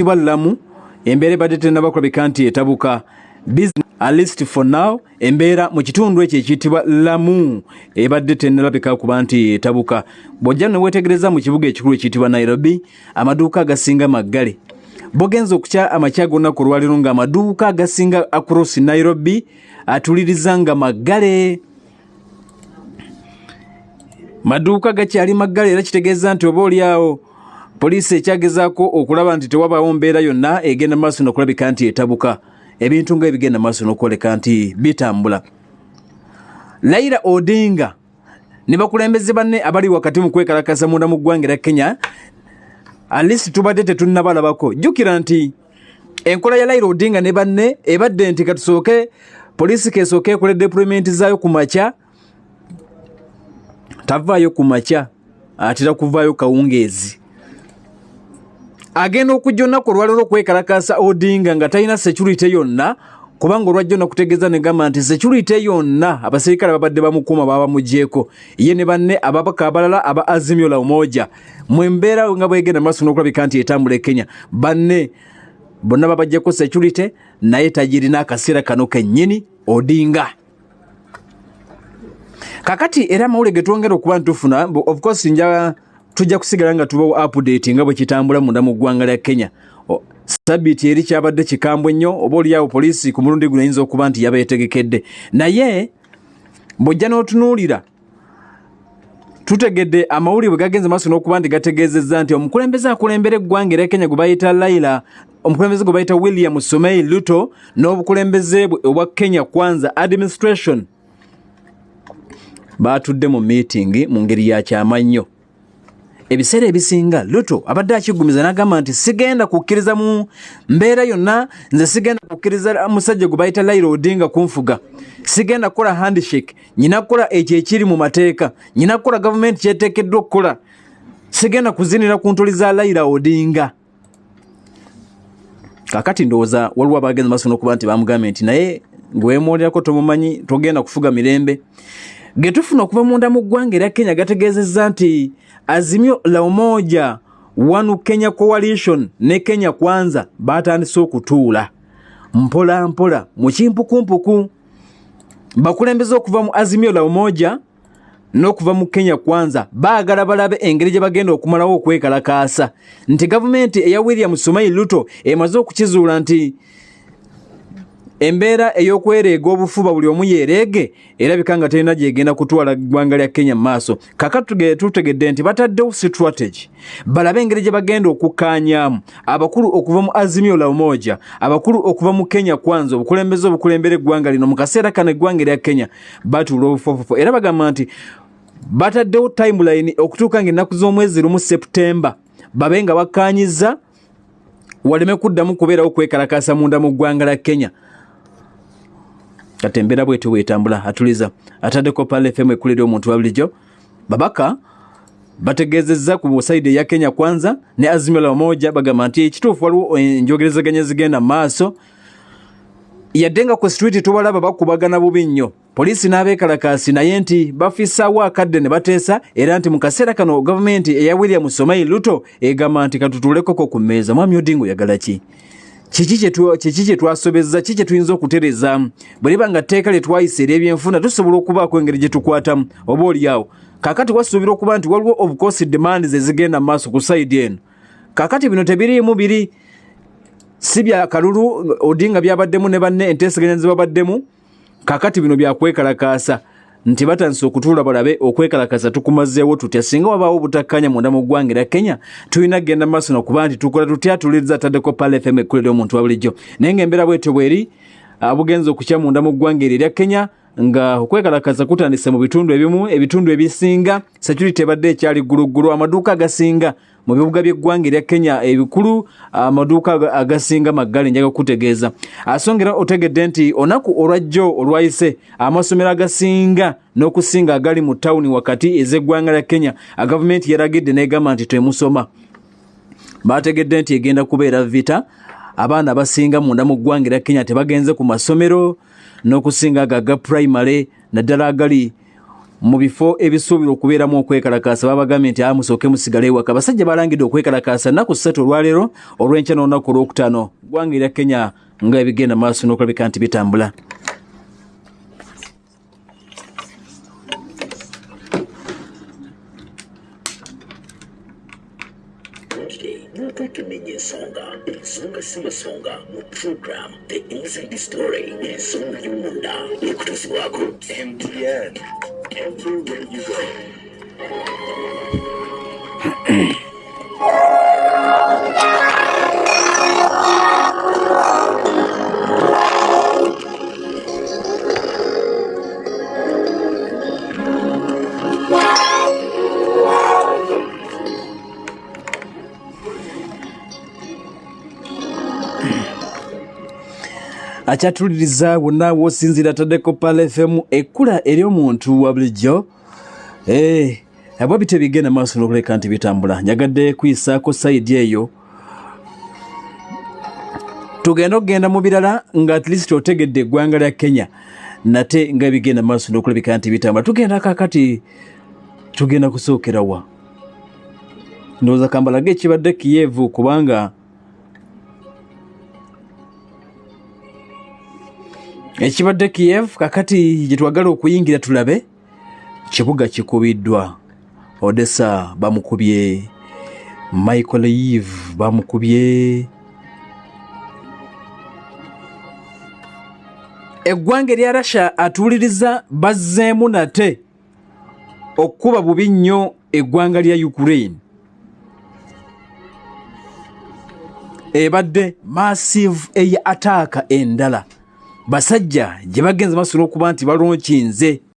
ekitibwa lamu embeera ebadde tenaba kulabika nti etabuka at least for now embeera mu kitundu ekyo ekiyitibwa lamu ebadde tenalabika kuba nti etabuka bwojja newetegereza mu kibuga ekikulu ekiyitibwa nairobi amaduuka agasinga maggale bogenza okukya amakya gonna ku lwaliro nga amaduuka agasinga across nairobi atuliriza nga maggale maduuka gakyali maggala era kitegeeza nti oba oli awo poliisi ekyagezaako okulaba nti tewabaawo mbeera yonna egenda maaso nokulabika nti etabuka ebintu nga ebigenda maaso nokwoleka nti bitambula laira odinga ne bakulembeze banne abali wakati mu kwekalakasa munda mu ggwanga era kenya alisi tubadde tetunnabalabako jjukira nti enkola ya laira odinga ne banne ebadde nti katusooke poliisi kesooke ekola deployment zaayo ku makya tavaayo ku makya atera kuvaayo kawungeezi agenda okujja olunaku olwalero okwekalakaasa odinga nga talina security yonna kubanga olwajja olunaku tegeeza negamba nti security yonna abaserikale babadde bamukuuma baba bamugyeko ye ne banne ababaka abalala aba azimio la umoja mu embeera nga bwegenda maaso n'okulabika nti etambula e kenya banne bonna babajjako security naye tagirina akaseera kano kennyini odinga kakati era amawule getwongera okuba ntufuna of course nja tujja kusigala nga tubawo update nga bwekitambula munda mu ggwanga lya kenya sabiiti eri kyabadde kikambwe nnyo oba oliawo poliisi ku mulundi guno yinza okuba nti yabeetegekedde naye bwojja n'otunuulira tutegedde amawulire bwe gagenze maaso n'okuba nti gategeezezza nti omukulembeze akulembera eggwanga era kenya gwe bayita laila omukulembeze gwe bayita william sumei luto n'obukulembeze bwe obwa kenya kwanza administration baatudde mu miitingi mu ngeri ya kyama nnyo ebiseera ebisinga luto abadde akiggumiza n'agamba nti sigenda kukkiriza mu mbeera yonna nze sigenda kukkiriza musajja gwe bayita lairo odinga kunfuga sigenda kukola handshake nyina kukola ekyo ekiri mu mateeka nyina kukola gavumenti kyeteekeddwa okukola sigenda kuzinira ku ntoli za laira odinga kakati ndowooza waliwo abagenza maso nokuba nti bamugambye nti naye ngewemwolerako tomumanyi togenda kufuga mirembe getufuna okuva munda mu ggwanga era kenya gategeezezza nti azimyo laumoja wanu kenya coalition ne kenya kwanza batandise okutuula mpola mpola mukimpukumpuku bakulembeza okuva mu azimyo laumoja n'okuva mu kenya kwanza baagala balabe engeri gye bagenda okumalawo okwekalakaasa nti gavumenti eya william sumai luto emaze okukizuula nti embeera ey'okwereega obufuba buli omu yeereege erabika nga terina gyegenda kutwala ggwanga lya kenya mu maaso kaka tutegedde nti bataddewo strategy balabe engeri gye bagenda okukkaanyaamu abakulu okuva mu azimio la umoja abakulu okuva mu kenya kwanza obukulembeze obukulembera eggwanga lino mu kaseera kano eggwanga erya kenya batuula obufofofo era bagamba nti bataddewo timeline okutuuka nga ennaku z'omwezi lumu september babe nga bakkaanyizza waleme kuddamu kubeerawo kwekalakaasa munda mu ggwanga la kenya kati embeera bwetyo bwetambula atuliza ataddeko pala fm ekulira omuntu wabulijjo babaka bategeezezza ku saidi eya kenya kwanza ne azimio la umoja bagamba nti ekituufu waliwo enjogerezeganya zigenda mu maaso yadde nga ku street tubalaba bakubagana bubi nnyo poliisi n'abeekalakaasi naye nti bafissaawo akadde ne bateesa era nti mu kaseera kano gavumenti eya william somai luto egamba nti katutuulekoko ku mmeeza mwami odinga oyagala ki kiki kye twasobezza ki kye tuyinza okutereza bwe liba nga tteeka lye twayisa ery'ebyenfuna tusobola okubaako engeri gye tukwatamu oba olyawo kakati wasuubira okuba nti waliwo obukoosi demands ezigenda mu maaso ku sayidi eno kakati bino tebiriimu biri si bya kalulu odinga byabaddemu ne banne enteeseganya zebabaddemu kakati bino byakwekalakaasa nti batandise okutuula balabe okwekalakasa tukumazeewo tutya singa wabaawo obutakkanya munda mu ggwanga era kenya tulina kugenda maaso nokuba nti tukola tutya tuliza taddeko pal fm ekkulira omuntu wa bulijjo naye nga embeera bwetyo bweri abugenza okukya munda mu ggwanga eryo erya kenya nga okwekalakaza kutandise mu bitundu ebimu ebitundu ebisinga security ebadde ekyali gguluggulu amaduuka agasinga mu bibuga by'eggwanga erya kenya ebikulu amaduuka agasinga maggale njaga kukutegeeza asongera otegedde nti onaku olwajjo olwayise amasomero agasinga n'okusinga agali mu tawuni wakati ez'eggwanga lya kenya agavumenti yaragidde n'egamba nti twemusoma baategedde nti egenda kubeera vita abaana abasinga munda mu ggwanga erya kenya tebagenze ku masomero n'okusinga ago aga primary naddala agali mu bifo ebisuubirwa okubeeramu okwekalakaasa babagambye nti amusooke musigale ewaka abasajja balangidde okwekalakaasa nnaku ssatu olwaleero olw'enkya n'olunaku olwokutaano ggwanga erya kenya nga ebigenda maaso n'okulabika nti bitambula tutumenye ensonga ensonga si masonga mu program the inside story ensonga y'omunda ekutuusibwako mtn everywhere you go akyatuliriza wonna w'osinziira ataddeko pala fm ekkula ery'omuntu wa bulijjo Hey, eh, abwa bite bigenda maaso n'okuleka nti bitambula njagadde kuyisaako sayidi eyo tugenda okugenda mu birala nga at least otegedde eggwanga lya kenya nate nga bigenda maaso n'okulabika nti bitambula tugenda kakati tugenda kusookerawa ndowooza kambalage ekibadde kiyeevu kubanga ekibadde kiev kakati gyetwagala okuyingira tulabe kibuga kikubiddwa odessa bamukubye michael eve bamukubye eggwanga erya russia atuwuliriza bazzeemu nate okukuba bubi nnyo eggwanga lya ukraine ebadde massive eya ataaka endala basajja gye bagenze basobola okuba nti balonkinze